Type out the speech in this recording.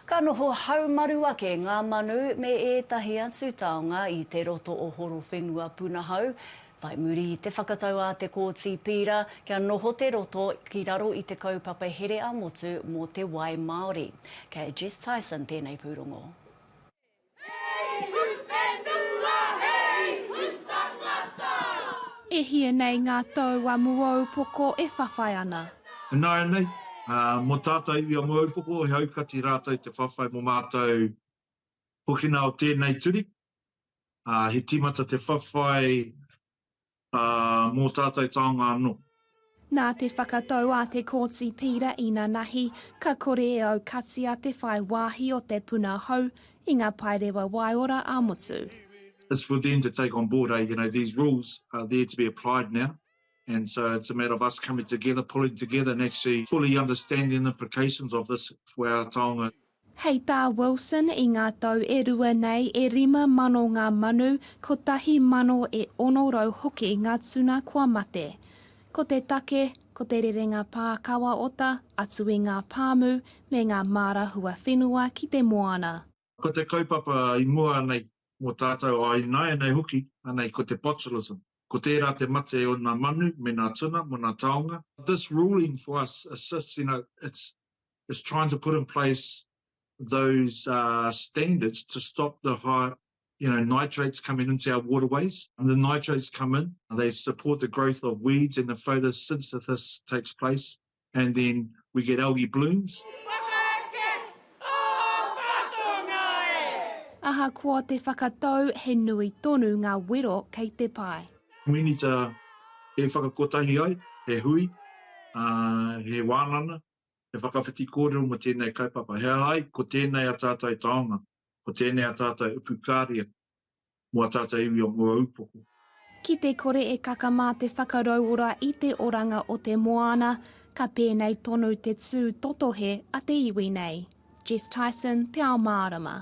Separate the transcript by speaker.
Speaker 1: Ka noho haumaru ake ngā manu me ētahi atu taonga i te roto o Horowhenua Punahou. Whai muri i te whakatau a Te Kooti Pīra kia noho te roto ki raro i te kaupapa here-a-motu mō te wai māori. Kei a Jess Tyson tēnei pūrongo. E hia nei ngā tau a Muoupoko e whawhai ana. Ināianei, mō tātou i a Muoupoko, he aukati rātou te whawhai mō mātou hokina o tēnei turi. He tīmata te whawhai mō tātou taonga anō. Nā te whakatau a Te Kooti Pīra inanahi ka kore e aukatia te whai wāhi o te puna hou i ngā paerewa waiora ā-motu. It's for them to take on board, you know, these rules are there to be applied now and so it's a matter of us coming together, pulling together and actually fully understanding the implications of this for our taonga. Hei tā Wilson, i ngā tau e rua nei, e rima mano ngā manu, kotahi mano e ono rau hoki ngā tuna kua mate. Ko te take, ko te rerenga pā kawa ota atu i ngā pāmu me ngā māra huawhenua ki te moana. Ko te kaupapa i mua nei mō tātou a ināianei hoki, anei ko te botulism, ko tērā te mate o nā manu me nā tuna mō nā taonga. This ruling for us assists, you know, it's is trying to put in place those uh, standards to stop the high you know, nitrates coming into our waterways. And the nitrates come in, they support the growth of weeds and the photosynthesis takes place. And then we get algae blooms. Ahakoa te whakatau, he nui tonu ngā wero kei te pae. We need to e whakakotahi ai, he hui, uh, he wānana, He whakawhiti kōrero mō tēnei kaupapa. He aha ai? Ko tēnei a tātou taonga, ko tēnei a tātou upu kāria mō a tātou iwi o Muaūpoko. Ki te kore e kaka mā te whakarauora i te oranga o te moana, ka pēnei tonu te tū totohe a te iwi nei. Jess Tyson, Te Ao Mārama.